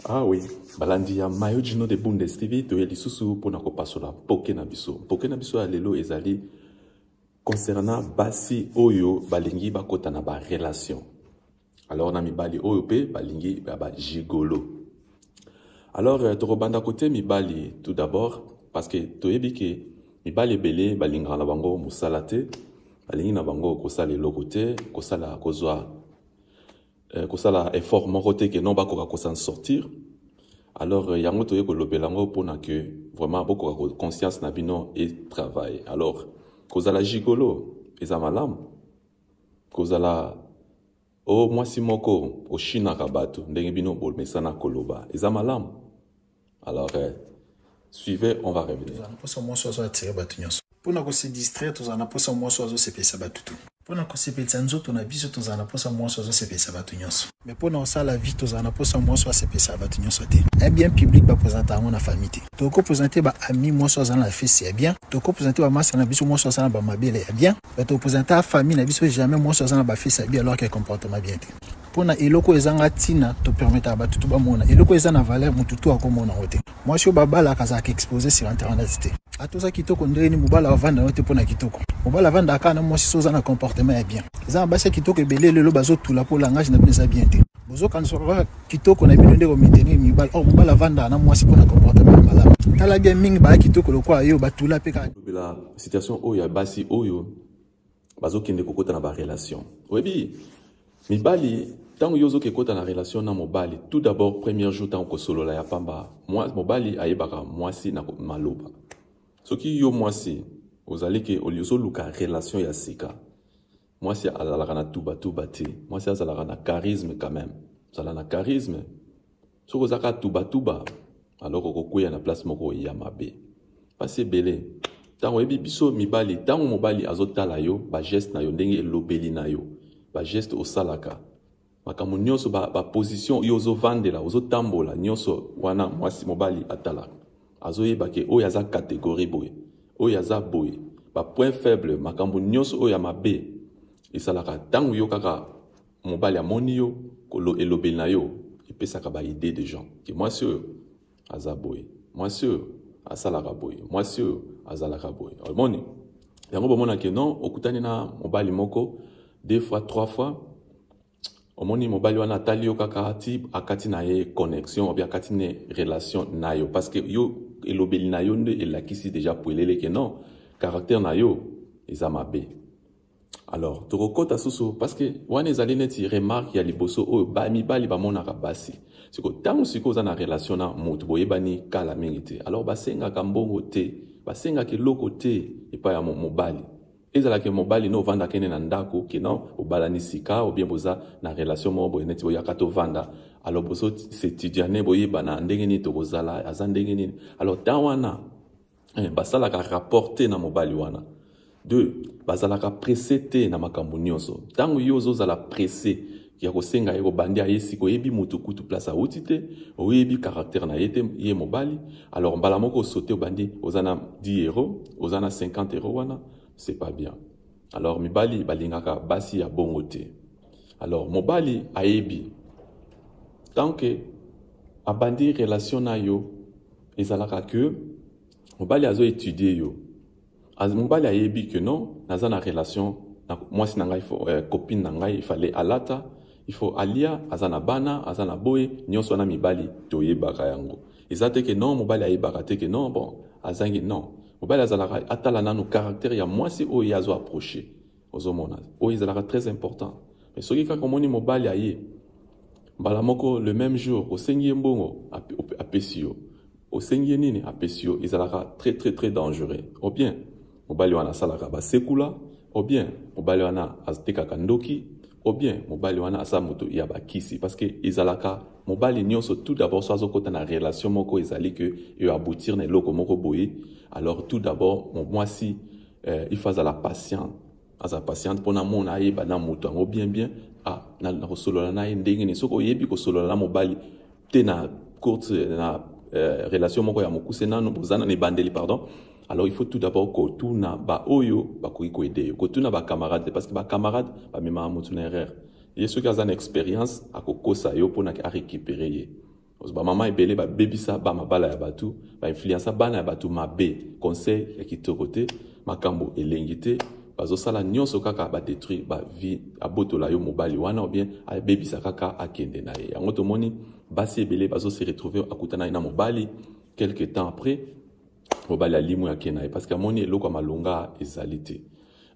Ah oui, balandi ya Mayo Gino de Bundes TV toye lisusu pona kopasola poke na biso. Poke na biso ya lelo ezali concernant basi oyo balingi bakota na ba relation. alors na mibali oyo mpe balingi ya ba gigolo alors euh, tokobanda kote mibali tout d'abord parce que toyebi ke mibali ebele balingaka na bango mosala te balingi na bango kosala eloko te kosala kozwa euh, kosala effort moko te ke non bakoka kosan sortir alors euh, yango toye kolobela yango mpona ke vraiment bokoka conscience na bino e travaille alors kozala gigolo eza malamu kozala o oh, mwasi moko oshinaka bato ndenge bino bomesana koloba eza malamu alors eh, suivez on va revenir mposa mwasi ozo atire bato nyonso mpo na kosidistraire tozala na mposa mwasi azosepelisa bato tu mpo na kosepelisa nzoto na biso tozala na mposa mwasi azosepelisa bato nyonso me mpo na kosala vie tozala na mposa mwasi asepelisa bato nyonso te ya bien public bapresente yango na famille te tokopresente baami mwasi azala na fesi ya bien tokopresente bamasa na biso mwasi azala na bamabele ya bien bato representa famille na biso jamais mwasi aza na bafisi abi alors ke comportement bien te mpo na eloko ezanga ntina topermetaka bato to bamona eloko eza na valeur motu to akomona yango te mwasi oyo babalaka azalaka expose sur internet te ata oza kitoko ndenge nini mobali avanda yango te mpo na kitoko mobali avandaka kaka na mwasi so oza na comportement ya bien eza na basi ya kitoko ebele lelo bazotula mpo langage na bino eza bien te bozokanisaka kaka kitoko na bino nde komiteni mibali or mobali avandaka na mwasi mpo na comportement ya malamu tala bien mingi baya kitoko lokola yo batula mpe kaka situation oyo ya basi oyo bazokende kokota na barelation oyebi mibali ntango yo ozoki ekota na relation na mobali tout d'abord premier jour ntango kosolola ya pamba mobali ayebaka mwasi na maloba soki yo mwasi ozali ke ozoluka relation ya sika mwasi azalaka na tubatuba te mwasi azalaka na charisme quand même zala na charisme soki oza kaka tubatuba alors okokweya na place moko ya mabe mpasi ebele ntango oyebi biso mibali ntango mobali azotala yo bageste na yo ndenge elobeli na yo bageste osalaka makambo nyonso baposition ba yo ozovandela ozotambola nyonso wana mwasi mobali atalaka azoyeba ke oyo aza kategori boye oyo aza boye bapoint faible makambo nyonso oyo ya mabe esalaka ntango yo kaka mobali amoni yo kolo elobeli na yo epesaka ba idée de gens ke mwasi oyo aza boye mwasi oyo asalaka boye mwasi oyo azalaka boye omoni yango bomona ke non okutani na mobali moko deux fois trois fois omoni mobali wana atali yo kaka ti akati na ye connexion obi akati ne relation na yo parce que yo elobeli na yo nde elakisi deja puelele ke non caractère na yo eza mabe alors tokokɔta susu parceke wana ezali neti remarke ya liboso oyo mibali bamonaka basi siko ntango sikoyo oza na relation na moto boyebani kala mingi te alors basengaka mbongo te basengaka eloko te epai ya mobali ezalaki mobali no ovanda kende na ndako kina obalani sika obien boza na relation moko boye neti boyaka tovanda alors boso setidiane boyebana ndenge nini tokozala aza ndenge nini alors temps wana eh, basalaka rapport te na mobali wana deux bazalaka presse te na makambo nyonso ntango yo ozozala presse ya kosenga ye kobandi aye sika oyebi motu kutu place awuti te oyebi caractère na ye te ye mobali alors mbala moko osote obandi oza na 10 euro oza na 50 euro wana c'est pas bien alors mibali balingaka basi ya bongo te alors mobali ayebi tant que abandi relation na yo ezalaka ke mobali azo étudier yo mobali ayebi que non naza na relation na mwasi na ngai euh, copine na ngai ifale alata ifo alia aza na bana aza na boye nyonso wana mibali toyebaka yango eza te ke non mobali ayebaka te ke non bon azangi non mobali azalaka atala nanu caractère ya mwasi oyo ye azo approche ozomona oyo ezalaka très important mais soki kaka omoni mobali aye mbala moko le même jour osengi ye mbongo apesi yo osengi ye nini apesi yo ezalaka très très très dangereux au bien mobali wana asalaka basekula au bien mobali wana atekaka ndoki au bien mobali wana aza moto ya bakisi parce que ezalaka mobali nyonso tout d'abord so azokota na relation moko ezali ke eaboutir na eloko moko boye alors tout d'abord mwasi eh, il faut azala patient aza patiente mpo namona ayeba na moto yango bien bien ah, nakosolola na ye ndenge nini soki oyebi kosolola na mobali te na courte na eh, relation moko ya mokuse nano boza na ebandeli pardon alors il faut tout d'abord kotuna baoyo bakoki koede yo kotuna bacamarade te parce que bacamarade bamemaka motu na erreur ye soki aza na expérience akokosa yo mpo na arécupere ye ba mama ebele babebisa ba mabala ya bato bainfluensa bana ya bato mabe conseil ya kitoko te makambo elengi te bazosala nyonso kaka badetruire bavie abotola yo mobali wana obien abebisa kaka akende na ye yango tomoni basi ebele bazose retrouve akutana ye na mobali quelque temps après mobali alimwe ake na ye parce que amoni eloko ya malonga ezali te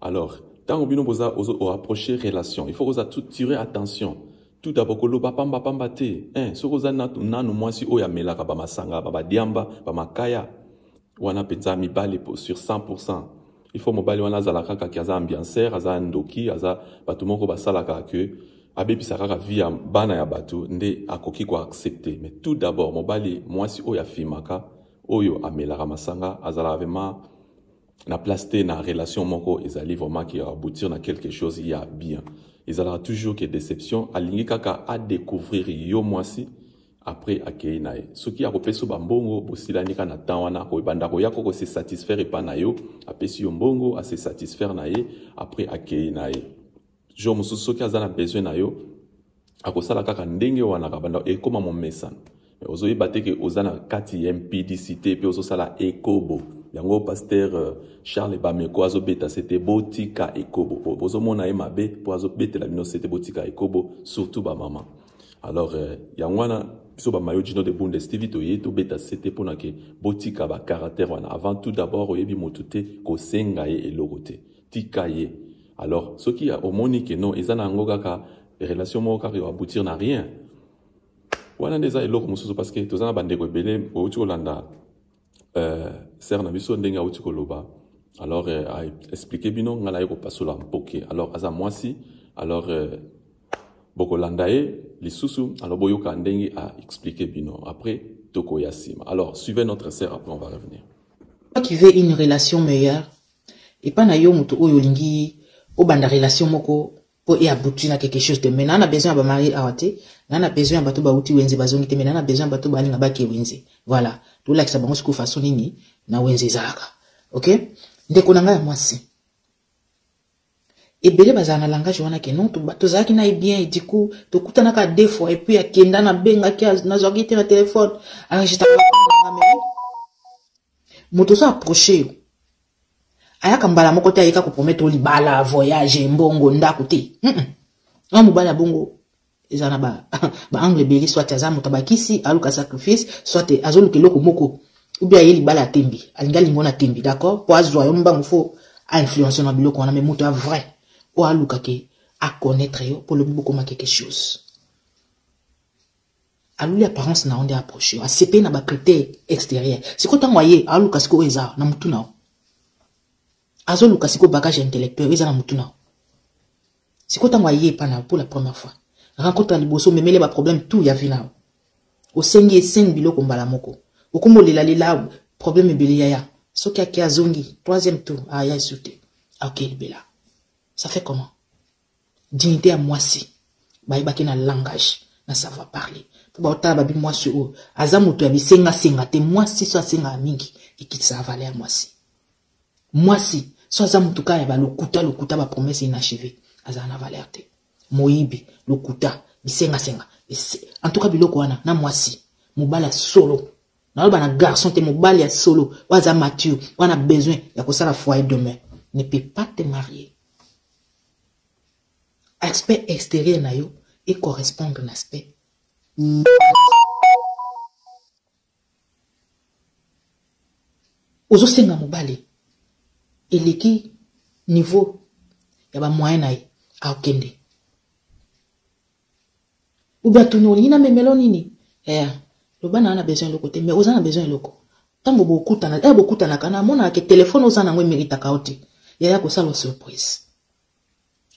Alors, tango bino boza ozo o approcher relation, il faut oza tirer attention. Tout d'abord koloba pamba pamba te. Hein, soki oza nanu mwasi oyo amelaka ba masanga, ba badiamba, ba makaya. Wana penza mibali sur 100%. Il faut mobali wana azala kaka ki aza ambianceur, aza ndoki, aza bato moko basalaka que abebisa kaka vie ya bana ya bato nde akoki ko accepter. Mais tout d'abord mobali mwasi oyo afimaka oyo amelaka masanga azalaka vraiment na place te na relation moko ezali vraiment ki aboutir na quelque chose ya bien ezalaka toujours ke déception alingi kaka adécouvrir yo mwasi après akei na ye soki akopesa bambongo bosilani kaka na temps wana akoebanda koya ko kose satisfaire epai na yo apesi yo mbongo ase satisfaire na ye après akei na ye jour mosusu soki aza na besoin na yo akosala kaka ndenge wana kabanda ekoma momesano ozoyeba te ke oza na kati ya mpidisite mpe ozosala ekobo yango paster euh, charles bameko azobeta se te botika ekobo po bozomona ye mabe mpo azobetela bino se te botika ekobo surtout bamama alors euh, yango wana biso bamayo gino de bundes tv toye tobeta se te mpo na ke botika bacaractère wana avant tout d'abord oyebi motu te kosenga ye eloko te tika ye alors soki omoni ke non eza na yango kaka relation moko kaka aboutir na rien wana nde eza eloko mosusu parce que toza na bandeko ebele outi kolanda euh, ser na biso ndenge auti koloba alors euh, aexplike bino ngai naye kopasola mpoke alors aza mwasi alors euh, bokolanda ye lisusu alors boyoka ndenge aexplike bino après tokoya nsima alors suivez notre ser après on va revenir qui veut une relation meilleure epa na yo moto oyo olingi obanda relation moko mpo e abouti na quelque chose te mais naa na besoin ya bamari awa te naa na besoin ya bato bauti wenze bazongi te mais naa na besoin ya bato balinga bake wenze voilà tolakisa bango sikoyo façon nini na wenze ezalaka ok ndeko na ngai ya mwasi ebele bazala na langage wana ke non tozalaki na ye bien du coup tokutanaka deux fois et puis akenda nabengaki nazwaki te na telefone arangitaka moto ozo approche yo ayaka mbala moko te ayeka kopromete oyo libala voyage mbongo ndako te mm -mm. na mobali ya bongo eza na baangle ba ebele soit aza moto abakisi aluka sacrifice soit azoluka eloko moko obi aye libala ya tembe alingi alingo na tembe d'accord mpo azwa yo mbango fo ainfluence na biloko wana mai moto ya vrai oyo alukake aconnaître yo mpo lobi bokomaki quelque chose aluli apparence na yo nde approche yo asepeli na bacritère extérieur sikoyo ntango aye aluka sikoyo oyo eza na motu na yo azoluka sikoyo bagage intellectuel oyo eza na motu na yo sikoyo ntango aye epa na yo pour la première fois rencontre ya liboso omemele baproblème tout ya vie na yo osengi esengi biloko mbala moko okomi olelalela problème ebele yaya soki ake azongi troisième tour aya esu te aoke libela ça fait comment dignité ya mwasi bayebaki na langage na savoir parler mpo baotala babi mwasi oyo aza moto ya bisengasenga te mwasi so asengaka mingi ekitisaka vale ya mwasi mwasi so aza moto kaka ya balokuta lokuta bapromese inachive azala na valeur te moyibi lokuta bisengasenga en tout cas biloko wana na mwasi mobali ya solo naloba na garçon te mobali ya solo oyo aza mature oyo na besoin ya kosala foyer demain ne peut pas te marier aspect extérieur na yo e correspondre na aspect ozosenga mobali eleki niveau ya bamoyen na ye akokende oubien atuni olingi na memelo nini eh, loba naa na besoin eloko te mais oza na besoin eloko ntango bokutana eh, bokutanaka na amonaka ke telefone oza na yango emeritaka yo te yaya kosala surprise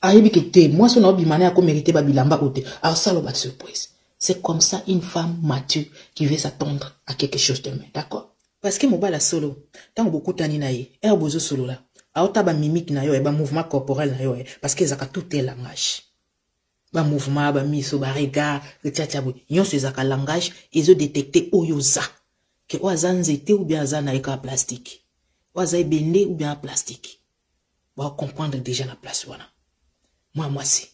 ayebi ke te mwasi oyo na obima na ye akomerite babilamba oyo te asala ba surprise c'est comme ça une femme mature qui veut s'attendre à quelque chose de mieux d'accord parce que mobala solo ntango bokutani na ye ere eh, bozosolola aota bamimike na yo e eh, bamouvement corporel na yo e eh, parce que ezalaka tout e langage ba mouvement ba miso ba regard tchatcha boye nyonso ezalaka langage ezo detecte oyo oza ke oyo aza nzete ou bien aza na ye kaka plastike oyo aza ebende ou bien plastike baocomprendre déjà na place wana mwa mwasi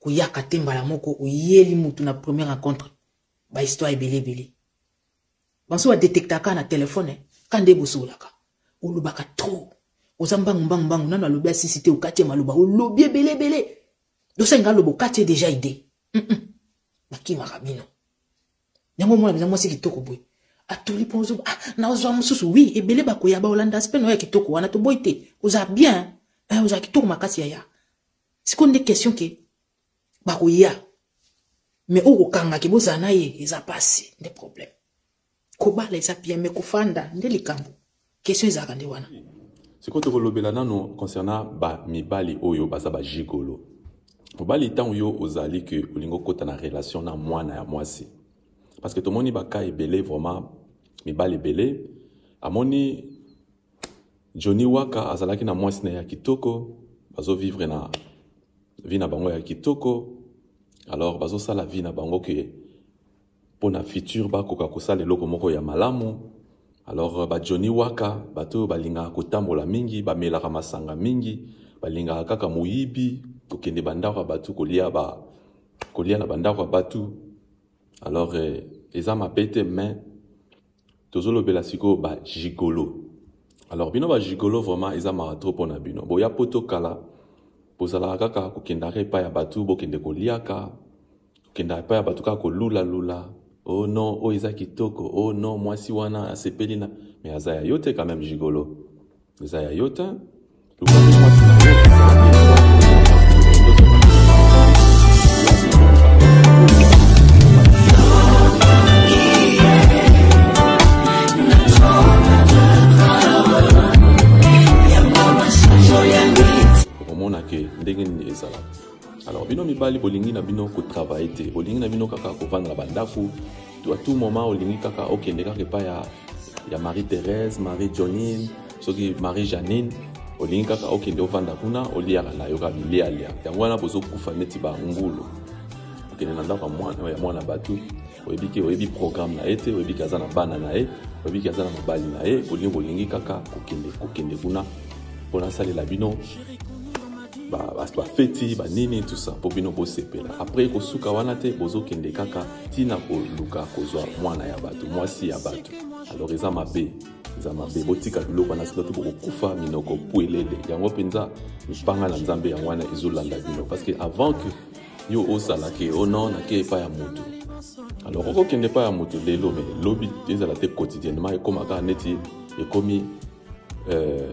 koyaka te mbala moko oyeli motu na première rencontre bahistoire ebele ebele banso ba detectaka na telefone ka nde bosolaka olobaka trop oza mbangu mbangu mbangu nano alobi asisi te okati ye maloba olobi ebele ebele dosenga aloba okati ye deja ide bakimaka bino yango omona mpenza mwasi kitoko boye atuli mpo ozo ah, nazwa mosusu wi ebele bakoya baolanda aspe na oyo ya kitoko wana toboyi te oza bien eh, oza kitoko makasi yaya sikoyo nde question ke bakoya me oyo kokangaki bozala na ye eza mpasi nde problème kobala eza bien me kofanda nde likambo question ezalaka nde wana sikoyo tokolobela nano concernant bamibali oyo baza bajigolo mobali ntango yo ozali ke olingi okota na relation na mwana ya mwasi parce que tomoni baka ebele vraiment mibali ebele amoni Johnny Waka azalaki na mwasi na ya kitoko, bazo vivre na vie na bango ya kitoko. Alors bazo sala vie na bango que pour na futur bakoka kosala eloko moko ya malamu. Alors ba Johnny Waka bato oyo balingaka kotambola mingi, bamelaka masanga mingi, balingaka kaka moyibi, kokende bandako ya bato kolia ba kolia na bandako ya bato. Alors eh, eza mabe te mais tozolobela sikoyo ba gigolo alors bino ba gigolo vraiment eza mawa trop mpo na bino boya poto kala bozalaka kaka kokendaka epai ya bato bokende koliaka kokendaka epai ya bato kaka kolulalula o oh non oyo oh eza kitoko o oh non mwasi wana asepeli na me aza ya yo te quand même gigolo eza ya yo te luka nde mwasi na yo okomona ke ndenge nini ezalaka alors bino mibali bolingi na bino kotravaille te bolingi na bino kaka kovanda na bandako to à tout moment olingi kaka okende kaka epai ya, ya marie thérèse marie johnine soki marie janine olingi kaka okende ovanda kuna oliaka na yo kaka bilialia yango wana bozokufa neti bangulu okende na ndako ya mwana bato oyebi ke oyebi programme na ye te oyebi ke aza na bana na ye oyebi ke aza na mobali na ye bolingi bolingi kaka kokende kokende kuna mpo nasalela bino bafeti ba banini tusa mpo bino bosepela apres ekosuka wana te bozokende kaka ntina koluka kozwa mwana ya bato mwasi ya bato alors eza mabe eza mabe botika biloko wana sila to bokokufa minoko pwelele yango mpenza mipanga na nzambe yango wana ezolanda bino parce que avant que yo osala ke o oh non nake epai ya motu alors okokende epai ya motu lelo me lobi ezala te quotidiennement ekóma kaka neti ekomi euh,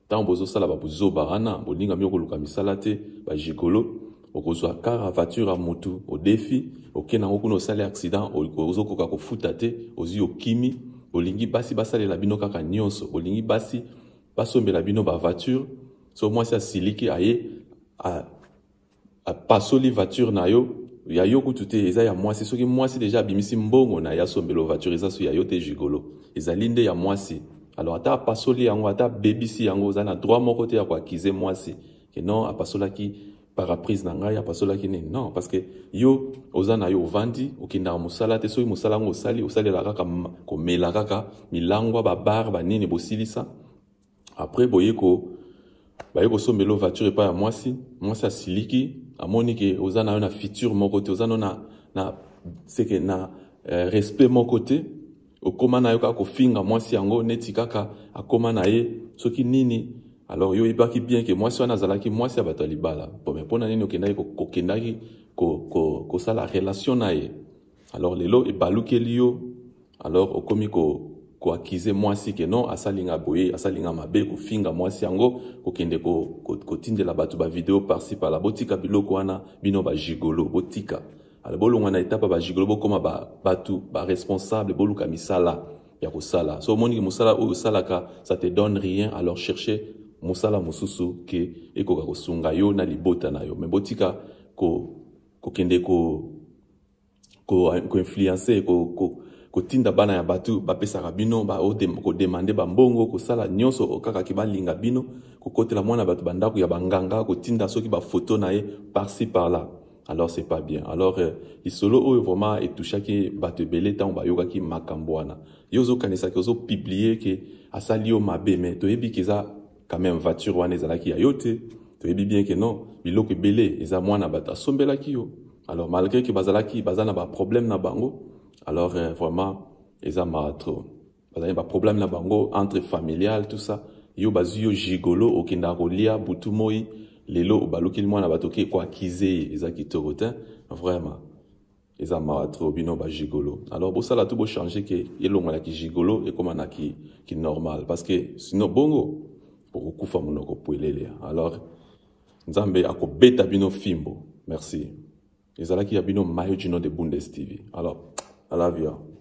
Tango bozosala ba buzoba wana, bolinga mio koluka misala te, ba gigolo, okozwa kara voiture ya mutu, odefi, oke nango kuna osali accident, ozokoka kofuta te, ozwi okimi, olingi basi basalela bino kaka nyonso, olingi basi basombela bino ba voiture, so mwasi asiliki aye a apasoli voiture na yo ya yo kutu te eza ya mwasi soki mwasi deja abimisi mbongo na ye asombelo voiture eza so ya yo te gigolo ezali nde ya mwasi alors ata apasoli yango ata abebisi yango oza na droit moko te ya koakize mwasi ke non apasolaki paraprise na ngai apasolaki nini non parce que yo oza na yo ovandi okendaka mosala te soki mosala yango osali osalela kaka komela kaka milangwa babar banini bosilisa après boye ko baye kosombela voiture epai ya mwasi mwasi asiliki amoni ke oza nayo na future moko te oza no na, na seke na eh, respect moko te okoma na yo kaka kofinga mwasi yango neti kaka akoma na ye soki nini alors yo oyebaki bien ke mwasi wana azalaki mwasi ya bato ya libala pome mpo na nini okendaki kokendaki kosala ko, ko relation na ye alors lelo ebalukeli yo alors okomi ko koakize mwasi ke non asalinga boye asalinga mabe kofinga mwasi yango kokende kotindela ko, ko bato bavideo parsi pala botika biloko wana bino bajigolo botika ala bolongwa na etapa bajigolo bokóma ba, bato baresponsable boluka misala ya kosala so omoniki mosala oyo osalaka ça te donne rien alors cherche mosala mosusu ke ekoka kosunga yo na libota na yo me botika kokende ko, ko koinfluence ko, ko, ko kotinda bana ya bato bapesaka bino kodemande bambongo kosala nyonso okakaki balinga bino kokotela mwana bato bandako ya banganga kotinda soki bafoto na ye parci par là alors c'est pas bien alors euh, lisolo oyo vraiment etouchaki bato ebele ntango bayokaki makambo wana yo ozokanisaki ozopublie ke asali yo mabe me toyebi ke eza quand même voiture wana ezalaki ya yo te toyebi bien ke non biloko ebele eza mwana bato asombelaki yo alors malgré que bazalaki baza na ba problème na bango alors euh, vraiment eza mawa trop bazali ba problème na bango entre familial tout ça yo bazwi yo gigolo okendaka kolia butu moi lelo obalukeli mwana bato oke koakize ye eza kitoko te vraiment eza mawa trop bino bajigolo alors bosala tu bochange ke elongo na kijigolo ekóma na kinormal ki parce que sinon bongo bokokufa monoko pwelele alors Nzambe akobeta bino fimbo. Merci. Ezalaki ya bino Mayo Gino de Bundes TV. Alors, I love you.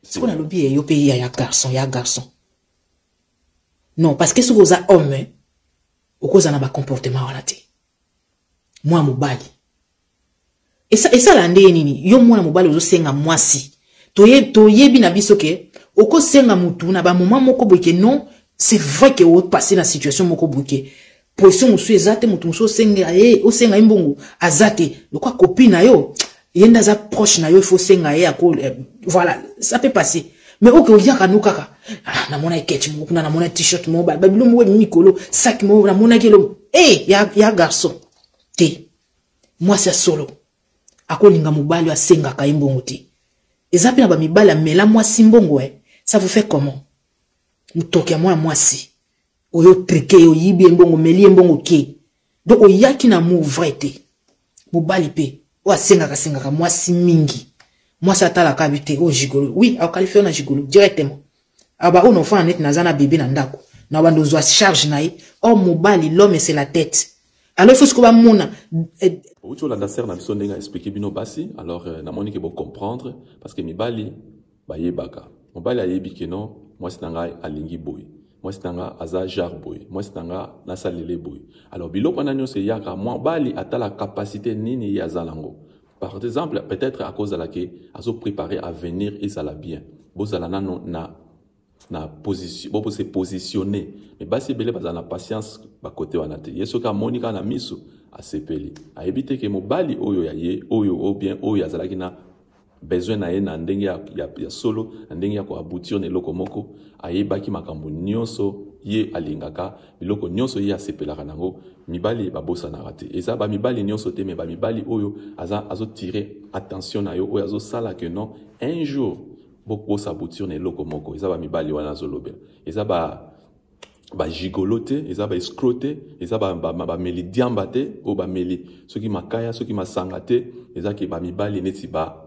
sikoyo nalobi ye yo mpe ya ya garçon ya garçon non parce que soki oza homme okozala na bacomportement wana te mwa mobali Esa, esala nde ye nini yo mwana mobali ozosenga mwasi toye, toyebi na biso ke okosenga mutu na bamoma moko boye ke non c'est vrai ke opasse na situation moko boye ke pression mosusu eza te motu mosusu osenga ye osenga ye mbongo aza te lokwa kopi na yo ye nde aza proche na yo ifo osenga ye ako eh, voilà ça peut passer mais oke oyaka no kaka ah, namona eketch moko kuna namona t-shirt moko babilo moko emikolo saki moko namonaki elo e eh, ya, ya garçon te mwasi ya solo akolinga mobali oyo asengaka ye mbongo te eza mpe na bamibali amela mwasi mbongo e ça vous fait comment motoki ya mwana mwasi oyo trike ye oyibi ye mbongo omeli ye mbongo ke donc oyaki na amour vrai te mobali mpe oyo asengaka asengaka mwasi mingi mwasi atalaka abi te oyo oh, gigolo oui aokalifio na gigolo directement Ah ba ono fana net naza na bebe na ndako. Na bando zwa charge na ye. Oh mobali l'homme c'est la tête. Alors il faut ce qu'on va mona eh, outi olanda sere na biso ndenge aexplike bino basi alors euh, namoni ke bocomprendre parce que mibali bayebaka mobali ayebi ke non mwasi na ngai alingi boye mwasi na ngai aza jare boye mwasi na ngai nasalele boye alors biloko wana nyonso eyaka mobali atala kapasite nini ye aza nango Par exemple, peut-être à cause de la qui a préparé à venir et ça la bien. Bozala na na na position, bon se positionner. Mais basi belé bazala na patience ba côté wana te. Yesu ka monika na misu a sepeli. A éviter que mobali oyo ya ye, oyo ou bien oyo azalaki na besoin na ye na ndenge ya, ya, ya solo, na ndenge ya ko aboutir na eloko moko, ayebaki makambo nyonso ye alingaka biloko nyonso ye asepelaka na yango mibali babosanaka te eza bamibali nyonso te me bamibali oyo aza azotire attention na yo oyo azosala ke non un jour bokosa bouture na eloko moko eza bamibali wana azolobela eza ba bajigolo te eza baescro te eza bameli diamba te oyo bameli soki makaya soki masanga te eza ke bamibali neti ba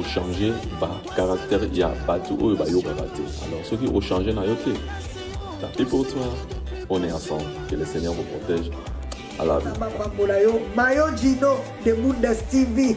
ochange bacaractère ya bato oyo bayokaka te alors soki ochange na yo te tapi pour toi on est ensemble que le seigneur vous protège alabapambola yo mayo gino de mundas tv